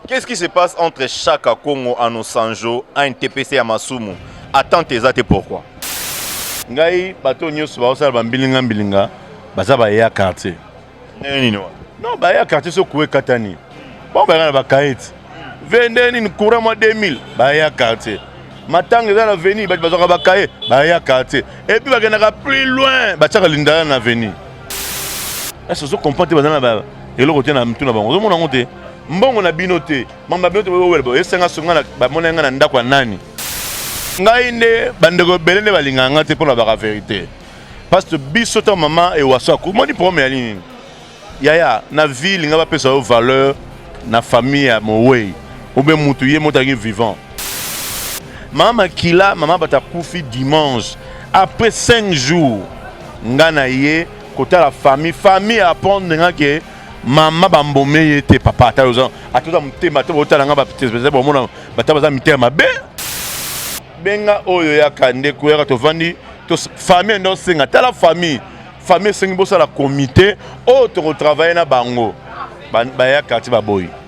Qu'est-ce qui se passe entre Chaka Kongo à Nosanjo à NTPC à Masumu Attends tes athées pourquoi Ngai, bato nyoso baosala bambilinga mbilinga baza baye ya quartier ndenge nini wana non baye ya quartier soki kuwa ekatani bango bayaka na bakaete ve ndenge nini courant mwa 2000 baye ya quartier matanga eza na veni bato bazwaka bakaye baye ya quartier epuis bakendaka plus loin batiaka lindala na veni ese ozo comprendre te baza na ba eloko te na mitu na bango ozomona yango te mbongo na bino te mambo na bino te bowela boye esenga songa na bamona ngai na ndako ya nani ngai nde bandeko ebele nde balingaka ngai te mpo na baka verité parce que biso ntango mama ewaso akumoni problème ya nini yaya na vie linga bapesa yo valeur na famille ya mowei obe mutu ye moto alingi vivant Mama Makila, mama bata kufi dimanche. Après 5 jours, nga na ye kotala famille. Famille apprendre nga ke mama bambome ye te papa ata oza atoza motema te botala nga bapesa bomona bata baza mitema mabe benga oyo yaka ndeko yaka tovandi famille nde osenga tala famille famille esengi bosala komite oyo tokotravaille na bango bayaka ti baboyi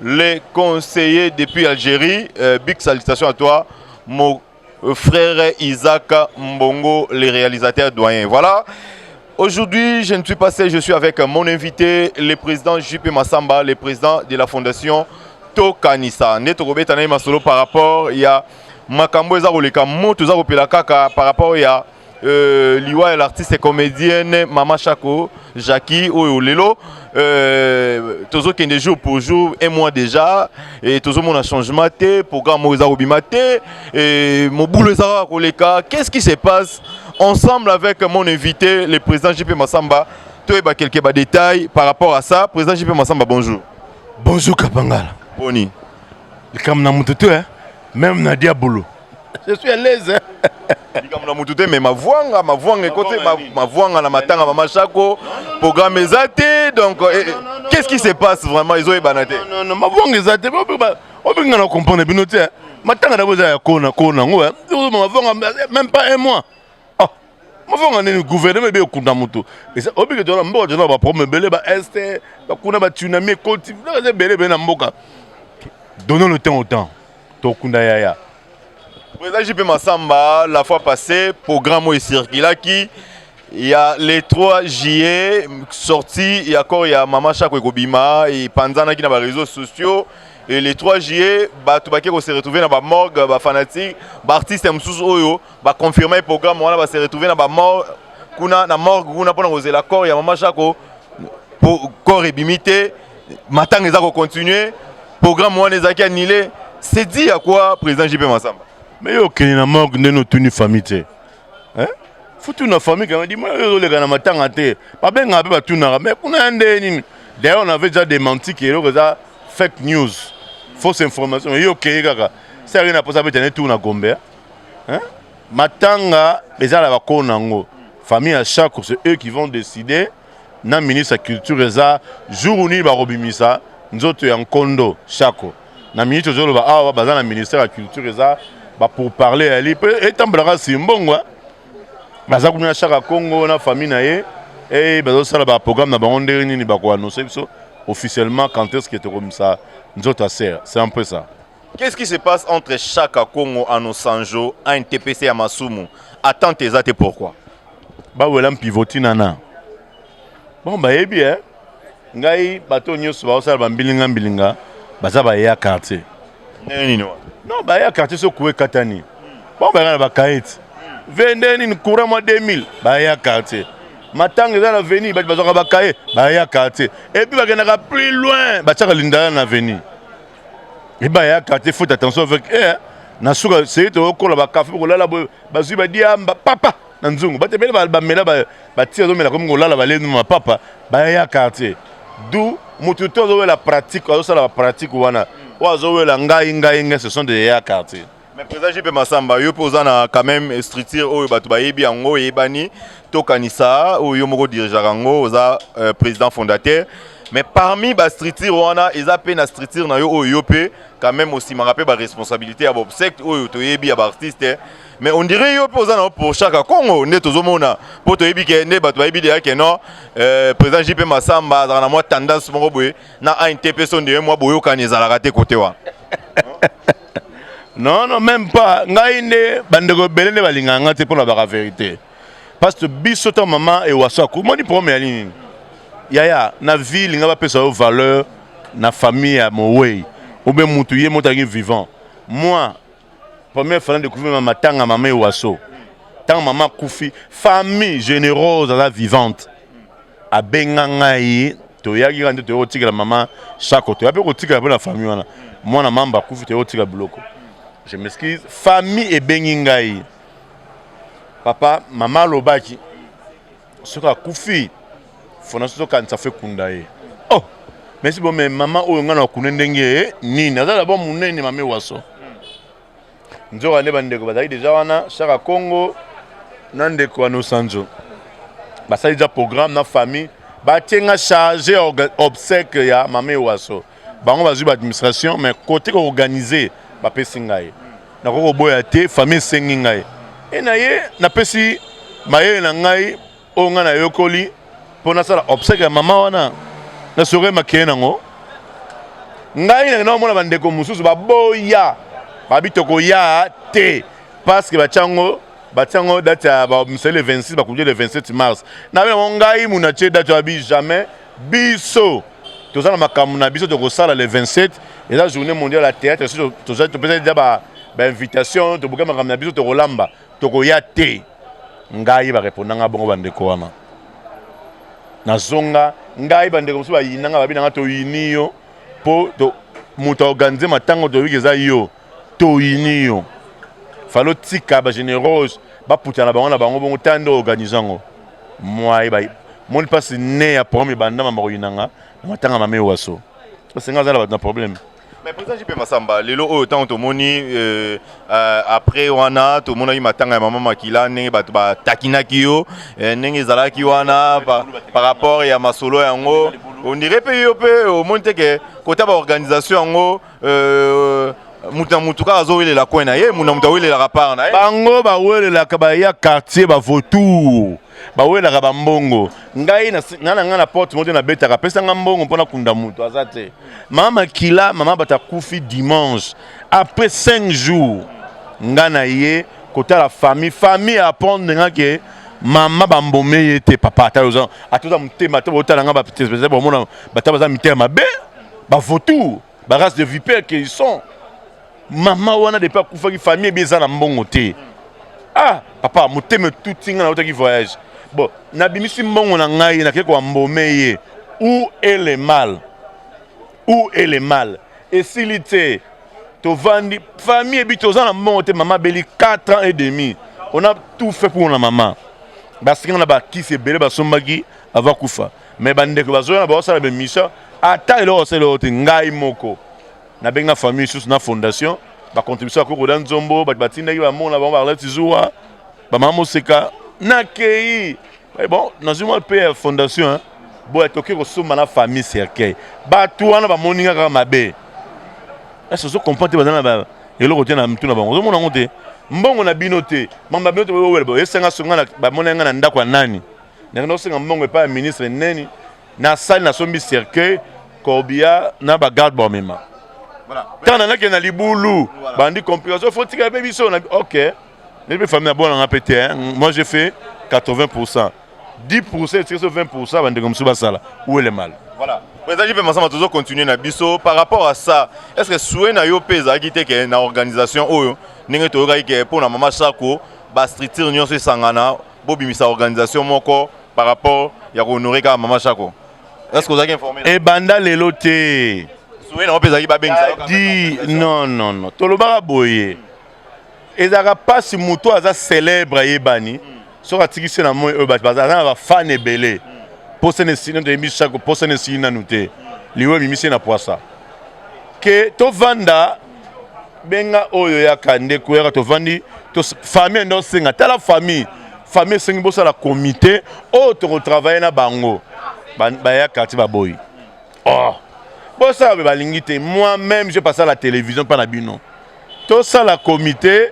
Le conseiller depuis Algérie, euh, big salutation à toi, mon euh, frère Isaac Mbongo, le réalisateur doyen. Voilà. Aujourd'hui, je ne suis pas seul, je suis avec mon invité, le président JP Massamba, le président de la fondation Tokanisa. Netokobeta na masolo par rapport il y a makambo eza koleka moto eza kopela kaka par rapport ya a... Euh, liwa ya l'artiste comédienne mama shako jacqui oyo lelo euh, tozokende jour pour jour un mois déjà e tozomona changement te programme oyo eza kobima te e mobulu eza kaka koleka qu'est ce qui se passe ensemble avec mon invité le président jp masamba toyeba quelques badétails par rapport à ça président jp masamba bonjour bonjour kapangala boni likambo na moto te même na diabolo je suis à l'aise likambo na motu te mais mavuanga mavuanga ekote mavuanga na matanga mama shako programme eza te donc eh, eh, qu'est ce qui se passe vraiment ezoyebana te mavuanga eza te obenga na comprendre bino te matanga na bo eza ya kona kona yango mavuanga même pas un mois ah, mafonga nini gouvernement ebe ekunda moto obike tona mboka tozana baproblème ebele ba este bakuna batsunami ekoti eza ebele ebele na mboka donnons le temps au temps Tokunda yaya. Président JP Massamba, la fois passée, programme oyo esirkilaki ya le 3 juillet sorti ya corps ya mama shako ekobima epanzanaki na bareseau sociaux e le 3 juillet bato bake kose retrouve na bamorgue bafanatique baartiste ya mosusu oyo baconfirme programme wana base retrouve na bamorgue kuna na morgue kuna mpona kozela corps ya mama shako corps ebimi te matanga eza ko continuer programme wana ezalaki annule c'est dit ya quoi président JP Massamba mais yo okende na morgue ndenge otuni famille te hein? futu na famille kanga dima yo ozoleka na matanga te babengaka mpe batunaka mais kuna ya ndenge nini d'ailleurs on avait déjà démenti ke eloko eza fake news fausse information yo okeye kaka se aye na mposa abeta ne tour na gombe hein? matanga eza na bakoo na yango famille ya chacre c'est eux qui vont décider na ministre ya culture eza jour nini bakobimisa nzoto ya nkondo shako na minute ozoloba awa baza na ministère ya culture eza bapourparle yali mpe etambolaka simbongo baza kuna na shaka congo na famille na ye e bazosala baprogramme na bango ndenge nini bakoannonce biso officiellement quand est ce que tokomisa nzoto ya ser c'est un peu ça Qu'est-ce qui se passe entre Chaka Kongo Anosanjo à un TPC ya Masumu Attente eza te pourquoi Bawela mpivoti nana Bon bayebi eh ngai bato nyonso baosala bambilinga mbilinga baza baye ya quartier ndenge nini wana non baye ya quartier so kuwe katani bango bayaka na bakaeti ve ndenge nini courant mwa 2000 baye ya quartier matanga eza na veni bato bazwaka bakaye baye ya quartier epuis bakendaka plus loin batyaka lindala na veni Eba ya quartier faut attention avec eh na suka c'est to kola ba café ko lala boy bazui ba diamba papa na nzungu ba tebele ba mela ba ba tira mela comme ko lala ba lenu ma papa ba ya quartier d'où mutu to zo la pratique azo sala pratique wana oyo azo wela ngai ngai ngai ce sont des ya quartier Mais président JP Massamba, yo pe oza na quand même structure oyo bato bayebi yango eyebani tokanisa oyo yo moko dirigeaka yango oza euh, président fondateur mais parmi ba structure wana eza pe na structure na yo oyo yo pe quand même osimaka pe ba responsabilité ya bobsect oyo toyebi ya baartiste mais on dirait yo pe oza na yo pour chaque congo nde tozomona mpo toyebi ke nde bato bayebi deya ke non euh, président JP Massamba azalaka na mwa tendance moko boye na ANTP so ndewe mwa boyokani ezalaka te kote wana non non même pas ngai nde bandeko ebele nde balingaka ngai te mpo na baka verité parce que biso ntango mama ewaso akomoni problème ya nini yaya na vie linga bapesa yo valeur na famille ya mowei obe mutu ye motangi vivant moi première fois na découvrir ma matanga mama ewaso ntango mama akufi famille générose aza vivante abenga ngai toyaki kaka nde toyaki kotikela mama sako toya mpe kotikela mpo na famille wana mwana mamba akufi toyaki kotika biloko je m'excuse famille ebengi ngai papa mama alobaki soki akufi fona soki tokanisa fo ekunda ye oh mesi bo me mama oyo ngai nakune ndenge nini aza dabord monene mame waso nzoka nde bandeko bazali deja wana shaka congo na ndeko ya nosanzo basali deja programme na famille batie nga charge ya obsèque ya mama ewaso bango bazwi baadministration mais kote koorganize bapesi ngai nakoki koboya te famille esengi ngai e na ye napesi mayele na ngai oyo ngai nayokoli mpo nasala obsèque ya mama wana na soki makeye nango ngai nakenda komona bandeko mosusu baboya babi tokoya te parceke batyango batyango date ya misali le 26 bakundi le 27 mars nabi yango ngai muna tie date abi jamais biso toza na makambo na biso tokosala le 27 eza journée mondiale ya théâtre soki topesa deja bainvitation tobuka makambo na biso tokolamba tokoya te ngai bareponda ngai bongo bandeko wana nazonga ngai bandeko mosusu bayina ngai babi na ngai toyini yo mpo moto aorganize matango toyoki eza yo toyini yo fali otika bagénérose baputana bango na bango bongo ta nde organize yango mwaye moni mpasi ne ya problème ebandama bakoyina nga na matanga mame waso parce nga aza na bato na problème Mais président JP Massamba, lelo oyo ntango tomoni euh, euh, après wana tomonaki matanga ya mama Makila ndenge bato batakinaki yo euh, ndenge ezalaki wana par, par rapport ya masolo yango on dirait mpe yo mpe omoni te ke kota baorganisation yango euh, moto na moto kaka azowelela coin na ye moto na moto awelelaka part na ye bango bawelelaka baya quartier bavotour bawelaka bambongo ngai na na ngai na porte moto nabetaka apesa ngai mbongo mpo nakunda moto aza te mama makila mama bato akufi dimanche après 5 jours ngai na ye kotala famille famille apprendre ngai ke mama bambome ye te papa ata oza ata oza motema ata botala ngai bapesa bomona bata baza mitema mabe bavotour ba race de vipère que ils sont mama wana depuis akufaki famille ebi eza na mbongo te ah papa motema etuti ngai nautaki voyage bon nabimisi mbongo na ngai nakei koambome ye ou est le mal ou est le mal esili te tovandi famille ebi toza na mbongo te mama abeli 4 ans et demi on a tout fait pour na mama basinga na bakisi ebele basombaki ava kufa mais bandeko bazoya na baosala bemission ata eloko asala eloko te ngai moko nabenga famille lisusu na fondation bacontribution ya kokoda nzombo bato batindaki bamona bango baarlete zuwa bamama moseka nakei eh bon nazwi mwa mpe ya fondation boya toke kosomba na famille cercueil bato wana bamoni nga kaka mabe ese ozo comprendre te baza na eloko te na mitu na bango ozomona yango te mbongo na bino te mambo na bino te boyowela boyesenga songa na bamona nga na ndako ya nani na kenda kosenga mbongo epai ya ministre neni na sali na sombi cercueil corbia na ba garde bamema ntango na nakende na libulu bandi complication fo tika mpe biso na ok nde mpe famille na bona nga mpe te moi je fais 80 pourcent 10 pourcent etika so 20 pourcent bandeko mosusu basala uele mal voilà ezalaki mpe masama tozo continuer na biso par rapport à ça est ce que souhait na yo mpe ezalaki te ke na organisation oyo ndenge toyokaki ke mpo na mama sako bastructure nyonso esangana bobimisa organisation moko par rapport ya kohonore kaka mama shako est-ce que ozalaki informe ebanda lelo te suwe nango mpe ezalaki babengisa di non non non tolobaka boye ezalaka mpasi moto aza célèbre ayebani soki atikisi na moi oyo bato baza na bafane ebele mposa na esili nano toyebi shako mposa na esili nanu te liwa ebimisi na pwasa ke tovanda benga oyo yaka ndeko yaka tovandi famille ndo senga tala famille famille esengi bosala comité oyo tokotravaille na bango baya quartier baboyi oh. bosala be balingi te moi même je passe à la télévision mpa na bino tosala comité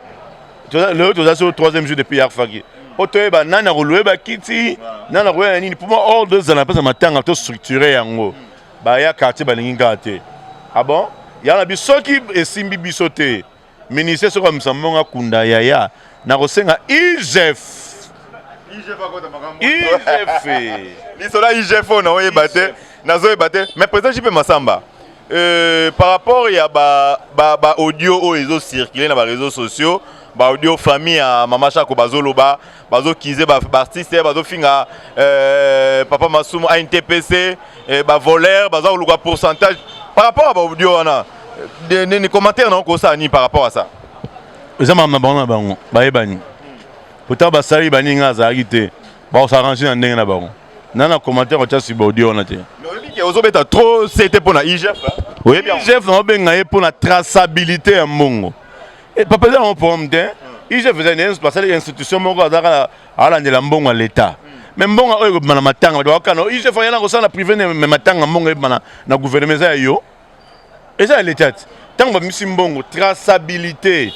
lelo toza so troisième jour depuis yarfaki mpo toyeba nani akolue bakiti nani akoya na nini mpo ma ordre ezala mpeza matanga tostructure yango mm. ba ya quartier balingi nga te ah bon ya na bisoki esimbi biso te ministre soki amisa mbongo akunda yaya nakosenga igf igf lisolo ya igf oyo naoyeba te nazoyeba te mais président jipe masamba euh, par rapport ya ba, ba, ba audio oyo ezocircule na bareseau sociaux baaudio famille ya mama shako bazoloba bazo kize ba artiste bazo finga euh, papa masumu a ntpc eh, ba voleur baza koluka pourcentage par rapport à ba audio wana nini commentaire na okosala nini par rapport à ça eza makambo na bango na bango bayebani pourtant basali baningi nga azalaki te bakosarange na ndenge na bango na na commentaire kotya siba audio wana te ozobeta trop sete mpo na igf igf naobenga ye mpo na traçabilité ya mbongo Eh, papa eza nango problème te igf eza nde basali institution moko azalaka alandela mbongo ya leta me mbongo oyo ekobima na matanga bato bakokana igf ayana kosala na privé me matanga mbongo ebima na gouvernement eza ya yo eza ya leta te ntango babimisi mbongo traçabilité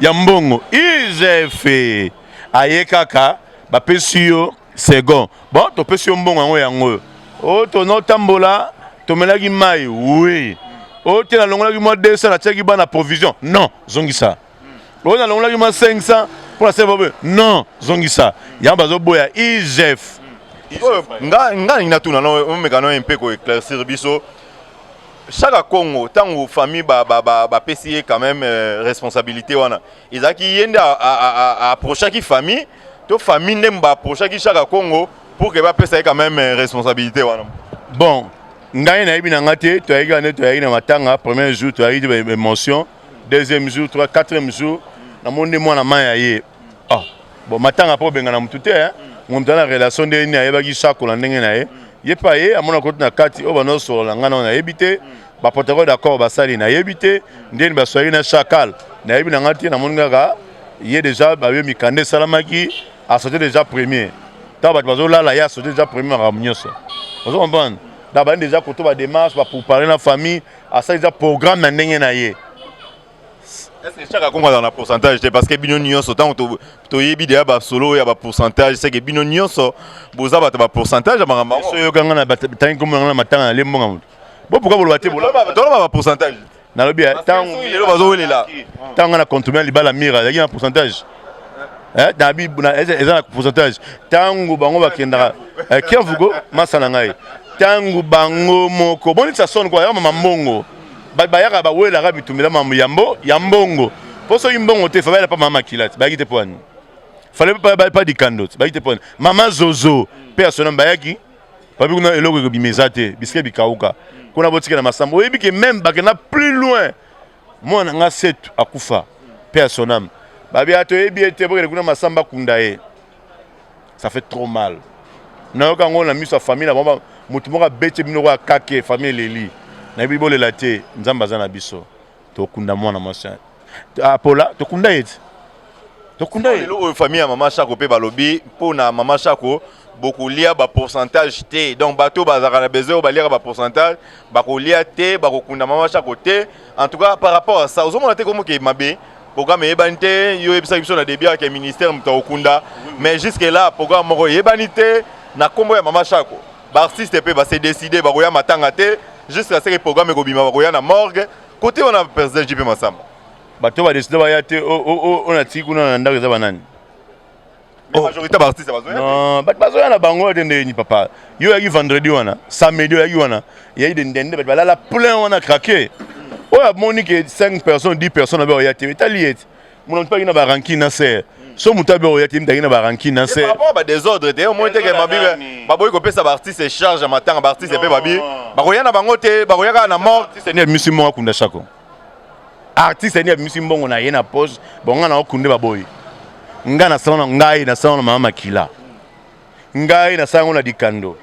ya mbongo igf aye kaka bapesi yo second bon topesi yo mbongo yango yango oyo o oh, tona otambola tomelaki mai oui o oh, te nalongolaki mwa 200 natiaki bana provision non zongisa o oh, nalongolaki mwa 500 mpo nasala baboye non zongisa yango bazoboya igf oyo nga nalingi natuna no omeka no mpe koeclaircir biso shaka congo ntango famille bapesi ye quand même euh, responsabilité wana ezalaki ye nde approchaki famille to famille nde ba approchaki Shaka Kongo pour que bapesa ye quand même euh, responsabilité wana bon ngai nayebi na ngai te toyaki wana toyaki na matanga premier jour toyaki te baémotion deuxième jour trois quatrième jour namoni nde mwana mai ya ye ah bon matanga mpo obengana motu te moto na relation nde nini ayebaki sakola ndenge na ye ye mpe aye amona koti na kati oyo banaosolola ngai nao nayebi te ba protocole d'accord basali nayebi te ndeni baswaki na chacal nayebi na ngai te namoni kaka ye deja bayo mikanda esalamaki asote deja premier ntango bato bazolala ye asote deja premier makambo nyonso ozo comprendre na bandi deja koto bademarche baprepare na famille asali deja programme na ndenge na ye Est-ce que chaque akongo azala na pourcentage te parce que bino nyonso ntango toyebi deya basolo oyo ya bapourcentage seke bino nyonso boza bato bapourcentage ya makambo yango soki oyokanga na batangi nkombo na nga na matanga na lembo nga moto Bo pourquoi boloba te boloba toloba ba pourcentage. Nalobi eh, tango lelo bazo welela. Tango na compte bien libala mira, yaki na pourcentage. Eh, na bi na eza na pourcentage. Tango bango bakendaka. Eh, Kiavugo masana ngai. Tango bango moko. Boni ça sonne quoi, ya mama mbongo. Ba bayaka ba welela ka bitumela mambo ya mbo, ya mbongo. Po soki mbongo te, fa bayela pa mama kilati. Bayaki te po ani. Fallait pas pas dikando. Bayaki te po ani. Mama Zozo, personne bayaki. Babi kuna eloko ekobima eza te, bisika bikauka. Kuna botika na masambo. Oyebi ke meme bakenda plus loin. Mwana nga setu akufa. Paix à son âme. Babi ato yebi ete bokende kuna masamba kunda ye. Ça fait trop mal. Nayoka ngo na miso ya famille na bango moto moko abeti bino kwa kake famille eleli. Nayebi bolela te, Nzambe aza na biso. tokunda mwana mwasi apola ah, tokunda ye ti tokunda ye lelo oyo famille ya mama shako mpe balobi mpo na mama shako bokolia bapourcentage te donc bato bazalaka na besoin oyo baliaka bapourcentage bakolia te bakokunda mama shako te en tout cas par rapport à ça ozomona te komoke mabe programme eyebani te yo oyebisaki biso na début yake ministère moto akokunda mais jusque là programme moko eyebani te na nkombo ya mama shako ba artiste pe ba se décider bakoya matanga te jusqu'à ce que programme ekobima bakoya na morgue côté wana président JP Massamba bato ba décider baya te on a tiki kuna na ndako eza banani oh. majorité ba artiste bazoya non bato bazoya na bango te ndeni papa yo oyaki vendredi wana samedi oyaki wana eyaki de ndende bato balala plein wana craquer oyo amoni ke 5 personnes 10 personnes abe oya te etali ye te Mon mpaki na ba rancune na sœur. so moto abe oya te mitaki na barankine na se rapport ba désordre te omoni teke mabibe baboyi kopesa baartiste charge ya matanga baartiste mpe babi bakoya na bango te bakoya kaka na mort artiste ni abimisi mbongo akunda shako artiste ni abimisi mbongo na ye na poche bonga na okunde baboyi ngai nasala na ngai nasala na mama makila ngai nasala yango na dikando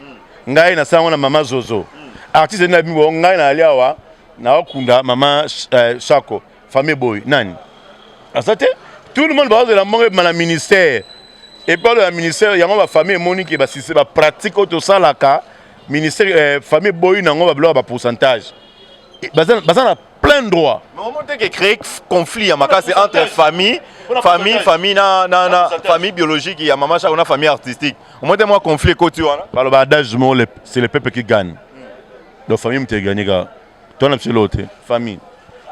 ngai nasala yango na mama zozo artiste ni abimi bongo ngai nayali awa naokunda mama eh, shako uh, Famille boy nani aza te tout le monde bazozela mbongo ebima na ministère epalo ya ministère yango bafamille emoni ke basise bapratique oyo tosalaka ministère eh, famille eboyi na yango babiloko ya bapourcentage eh, baza, baza na plein droit omoteke créer conflit ya makasi entre famille famille famille na, na, na famille biologique ya mama chako na famille artistique omote mwa conflit ekoti wana baloba adage mo c'est le peuple qui gagne donc famille moto eganye kaka toi na biso eloko te famille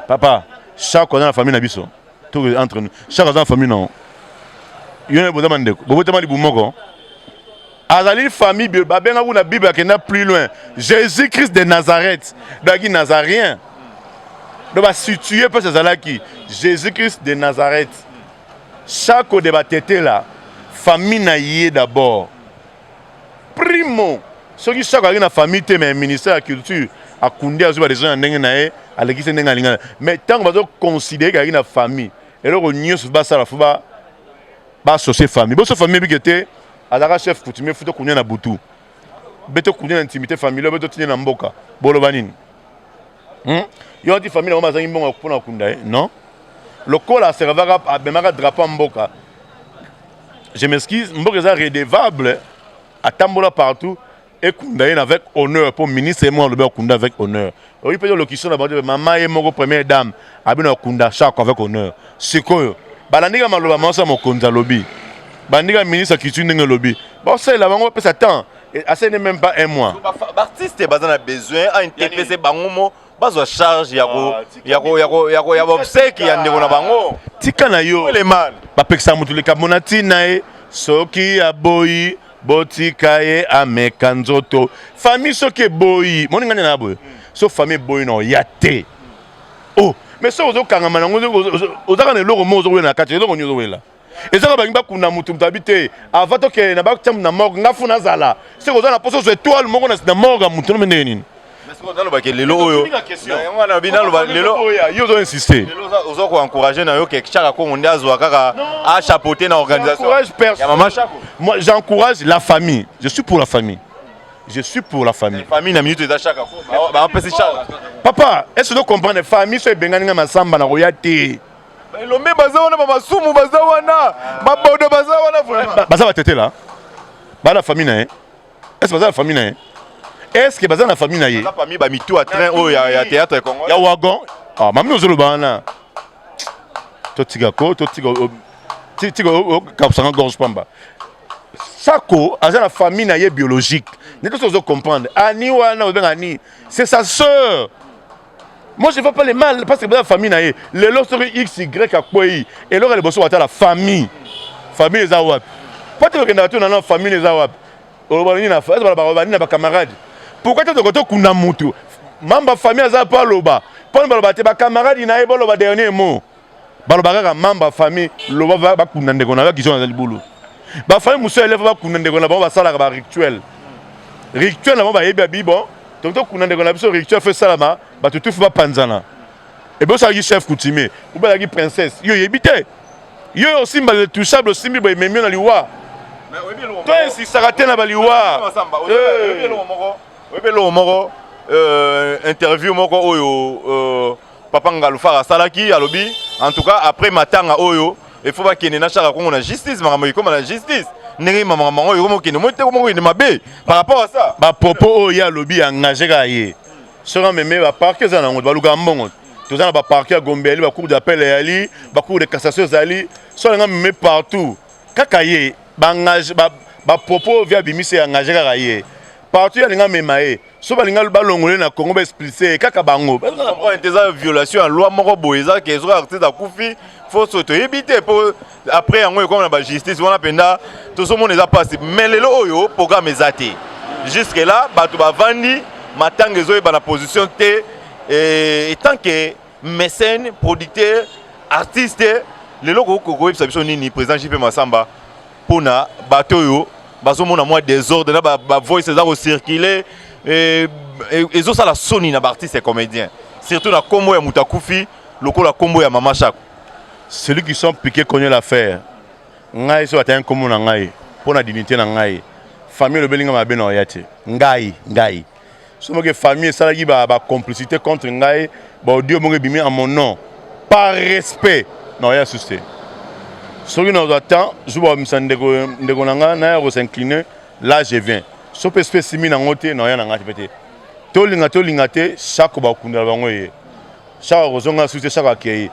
papa chaque aza na famille na biso to entre nous chaque aza na famille na yo na boza bandeko bobotama libu moko azali famille bio babenga kuna bible akenda plus loin jésus christ de nazareth daki nazarien do basitue mpasi azalaki jésus christ de nazareth chaque de batetela famille na ye d'abord Primo soki sako azalaki na famille te mais ministère ya culture akundi azwi badecision ya ndenge na ye alekisi ndenge alingana mais ntango bazoconsidere kazalaki na famille eloko nyonso basala fo basosie famille boso famille ebike te azalaka chef coutumier fo tokunia na butu be tokunia na intimité familiale be totinia na mboka boloba nini hmm? yo ati famille yango bazangi mbongo mpona kokunda ye non lokola aservaka abemaka drapeau ya mboka je m'excuse mboka eza redevable atambola partout ekunda ye na avec honneur mpo ministre ye moko alobi akunda avec honneur oyi mpe lokiso na bango mama ye moko première dame abino akunda chako avec honneur sikoyo balandika maloba maosa mokonzi alobi bandika ministre ya culture ndenge elobi baosalela bango bapesa temps asene même pas un mois baartiste baza na besoin antepese bango mo bazwa charge ya ko ah, ya ko ya ko ya ko ya bobseki ya ndeko na bango tika na yo bapekisa motu likambo na ntina ye soki aboyi botika ye ameka nzoto famille soki eboyi moni ngani na boye so famille eboyi na oya te o oh, mais soki ozokangama nango ozaka na eloko moko ozokwela na kati eloko nini ozokwela ezaka bangi bakuna motu moto abi te avant tokende na batia na morgue nga funa azala soki oza na mposa ozwa etoile moko na morgue ya motu no ndenge nini nalobaki lelo oyo yango wana bi naloba lelo yo ozo insiste oza koencourage na yo ke chaka kongo nde azwa kaka achapeaute na organisation ya mama chako moi j'encourage la famille je suis pour la famille je suis pour la famille famille na minute eza chaka bapesi chaka papa est ce que comprendre famille so ebengani nga masamba na koya te Elombe baza wana ba masumu baza wana ba bodo baza wana vraiment. Baza batetela. Bana famille na ye. Est-ce baza na famille na ye? Est-ce que baza na famille na ye? Baza parmi ba mitu à train oyo ya, ya théâtre ya Congo. Ya wagon. Ah, mami ozoloba wana. Totika ko, totika tika okabusanga gorge pamba. Sako aza na famille na ye biologique. Ndeto ozo comprendre. Ani wana obenga ani. C'est sa sœur. Moi je vois pas le mal parce que la famille na ye lelo soki XY akwei eloko liboso watala famille famille eza wapi po te kokendaka tuna na famille eza wapi oloba nini na famille oloba nini na bacamarade pourquoi te toko tokunda mutu mamba famille aza po aloba po baloba te bacamarade na ye boloba dernier mot baloba kaka membre ya famille loba bakunda ndeko na yo kizo na libulu bafamille mosusu ya eleva bakunda ndeko na bango basalaka barituel rituel na bango bayebi ya bibo toki tokunda ndeko na biso rituel fo esalama bato tufi bapanzana ebe osalaki chef coutumier obelaki princesse yo oyebi te yo yo osimba le touchable osimbi boye ememi yo na liwa to insistaka te na baliwa oyebi eloko moko euh, interview moko oyo euh, Papa Ngalufara asalaki alobi en tout cas après matanga oyo il faut bakende na shaka kongo na justice makambo ekoma na justice ndenge makambo yango ekoma okende moi te ekoma okende mabe par rapport à ça ba propos oyo ye alobi engage kaka ye soki ameme ba parquet eza na yango balukaka mbongo toza na ba parquet ya gombe yali ba cour d'appel yali ba cour de cassation ezali so alinga meme partout kaka ye ba engage ba ba propos via bimisi engage kaka ye partout alinga mema ye so balinga balongole na congo baexplise kaka bango eza violation ya loi moko boye eza ke soki artiste akufi foso toyebi te mpo après yango ekoma na bajustice wana mpenza tozomona eza mpasi mais lelo oyo programme eza te jusque là bato bavandi matanga ezoyeba na position te etant ke mécène producteur artiste lelo kokoyebisa biso nini président jp masamba pona bato oyo bazomona mwa desordre na bavoice eza kocircule eh, eh, ezosala soni na baartiste comédien surtout na nkombo ya moto akufi lokola nkombo ya mama shako celui qui sont piqué connaît l'affaire ngai soki atali nkombo na ngai mpo na dignité na ngai famille elobeli ngai mabe na oya te ngai ngai somoke famille esalaki ba, ba complicité contre ngai ba audio moko ebimi à mon nom par respect na oya susu te soki nazwa temps zuba omisa ndeko, ndeko na ngai naya kosincline là je viens so mpe soki esimi nango te na oya na ngai mpe te tolinga tolinga te shako bakundela bango ye shako akozonga susu te shako akei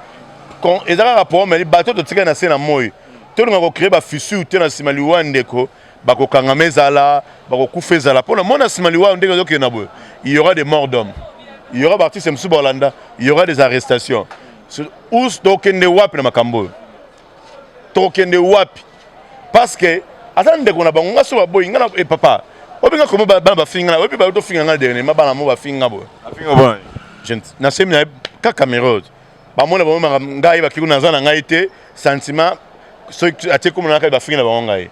eza kaka problème bato totikali na se na moi tolinga kocree bafissure te na nsima liwa ya ndeko bakokangama ezala bakokufa ezala mpo na mwana nsima liwa ndenge ezokende na boye il y aura des morts d'homme il y aura baartiste mosusu baolanda il y aura des arrestations us tokende wapi na makambo oyo tokende wapi parce que aza ndeko na bango nga so baboyi nga na e papa obenga komo bana bafinga na oyebi bayo tofinga nga dernier ma bana mo bafinga boye na semi na kaka merode bamona bamemaka ngai bakei kuna naza na ngai te sentiment soki atie kombo na ngai bafingi na bango ngai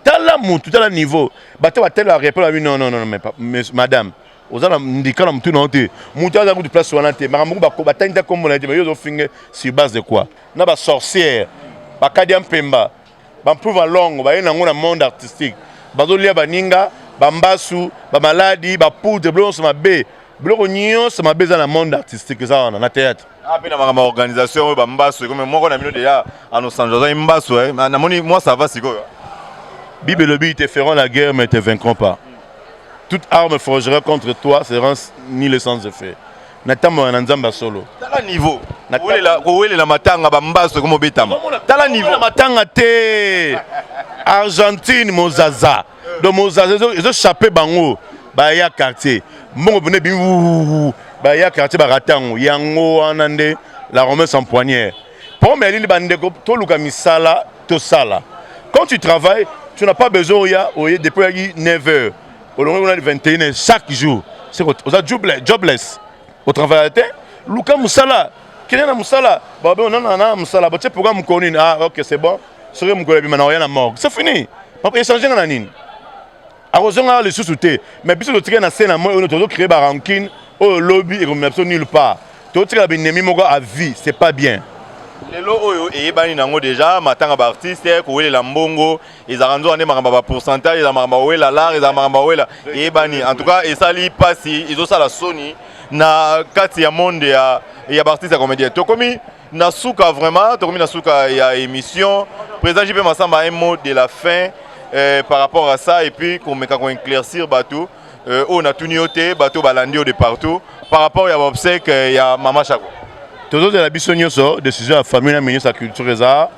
tala mutu tala niveau bato batele barepele babi non non non mais madame oza na ndika na motu na yo te motu aza kutu place wana te makambo moko batangi ta kombo na ye te mais yo ozofinge sur base de quoi na basorcière bakadi ya mpemba Bampruva longo baye nango na monde artistique bazolia baninga bambasu bamaladi bapoudre biloko nyonso mabe biloko nyonso mabe eza na monde artistique eza wana na théâtre ape ah, na makambo ya organisation oyo bambasu ekome moko na bino deja anosanjo azali mbasu eh. namoni mwa sava sikoyo bible elobi te feront la guerre mais te vaincront pas toute arme forgera contre toi sera ni le sans effet natambola na nzambe ya solo tala niveau kowelela matanga bambaso ekomobetama tala niveau na matanga te argentine mozaza donc mozaza ezochape bango baya quartier mbongo pene bi baya quartier barata yango yango wana nde la romance en poignière problème ya lili bandeko toluka misala tosala quand tu travailles tu n'as pas besoin oya oye depuis oyaki 9 heures olongi kuna 21 chaque jour oza jobless otravaille te luka mosala kende na mosala babe onana na mosala botie programme mokolo nini ah ok c'est bon soki mokolo ebima na oya na morgue c'est fini echange nga na nini akozonga awa lisusu te mais biso totikali na se na moi oyo tozo créer barankine oyo lobi ekomema biso nulle part totikala binemi moko à vie c'est pas bien lelo oyo eyebani nango deja matanga baartiste kowelela mbongo ezalaka nzoka nde makambo ba pourcentage ezalaka makambo awela lar ezalaka makambo awela eyebani en tout cas esali mpasi ezosala soni na kati ya monde ya, ya baartiste ya comédien tokomi na suka vraiment tokomi na suka ya émission président jp masamba un mot de la fin euh, par rapport à ça et puis komeka koinclaircir bato euh, oyo natuni yo te bato balandi yo de partout par rapport ya baobsèque ya mama shako tozozela biso nyonso décision ya famille na ministre ya culture eza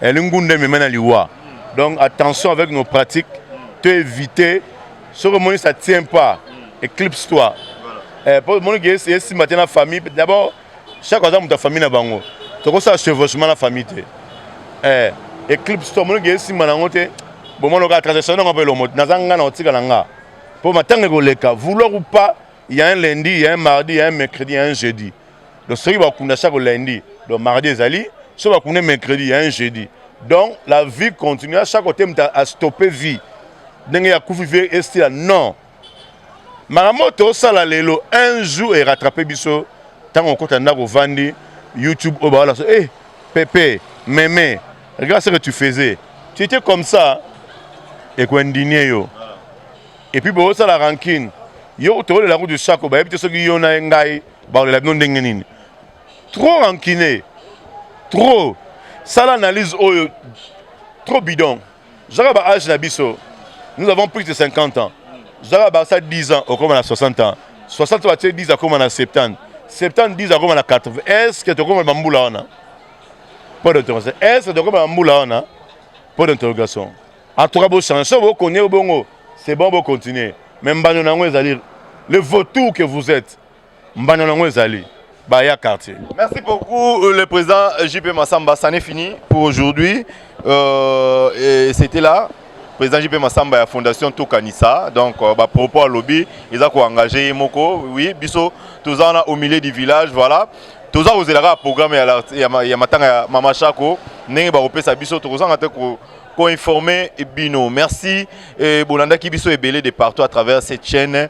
eli ngunda emema na liwa donc attention avec nos pratiques to éviter soki omoni ça tient pas éclipse toi eh, po omoni ke esimba te na famille d'abord chaque aza moto ya famille na bango tokosala chevauchement na famille te eh, éclipse toi omoni ke esimba na yango te bomoni okaa transaction nanga mpe elomo naza nga na kotika na nga mpo matanga ekoleka vouloir ou pas ya un lundi ya un mardi ya un mercredi ya un jeudi donc soki bakunda chaque lundi donc mardi ezali soki bakunda mercredi ya un jeudi donc la vie continue chaque kote moto astoppe vie ndenge ya kufi vie estila non makambo oyo tosala lelo un jour erattrape biso ntango okota ndako ovandi youtube oyo baola so e eh, pepe meme regarde ce que tu faisais tu étais comme ça ekoindinie yo epuis boosala rancune yo tokolela kutu shako bayebi te soki yo na ye ngai bakolela bino ndenge nini trop rancune trop sala analyse oyo trop bidon zaka ba age na biso nous avons plus de 50 ans zaka barça 10 ans okoma na 60 ans 60 batie 10 akoma na 70 70 10 akoma na 80 est ce que tokoma bambula wana mpo d'interrogation est ce que tokoma bambula wana mpo d'interrogation en tout cas bochange soki bokonye bongo c'est bon bocontinue mais mbano na yango ezali le vautour que vous êtes mbanda na yango ezali baya quartier merci beaucoup euh, le président euh, jp massamba ça n'est fini pour aujourd'hui euh, c'était là président jp massamba ya fondation tokanisa donc euh, bapropos alobi eza koengage ye moko oui biso toza wana au milieu du village voilà toza kozela kaka programme ya, ya, ya matanga ya mama shako ndenge bakopesa biso tokozanga te ko koinforme bino merci e, bolandaki biso ebele de partout à travers cette chaîne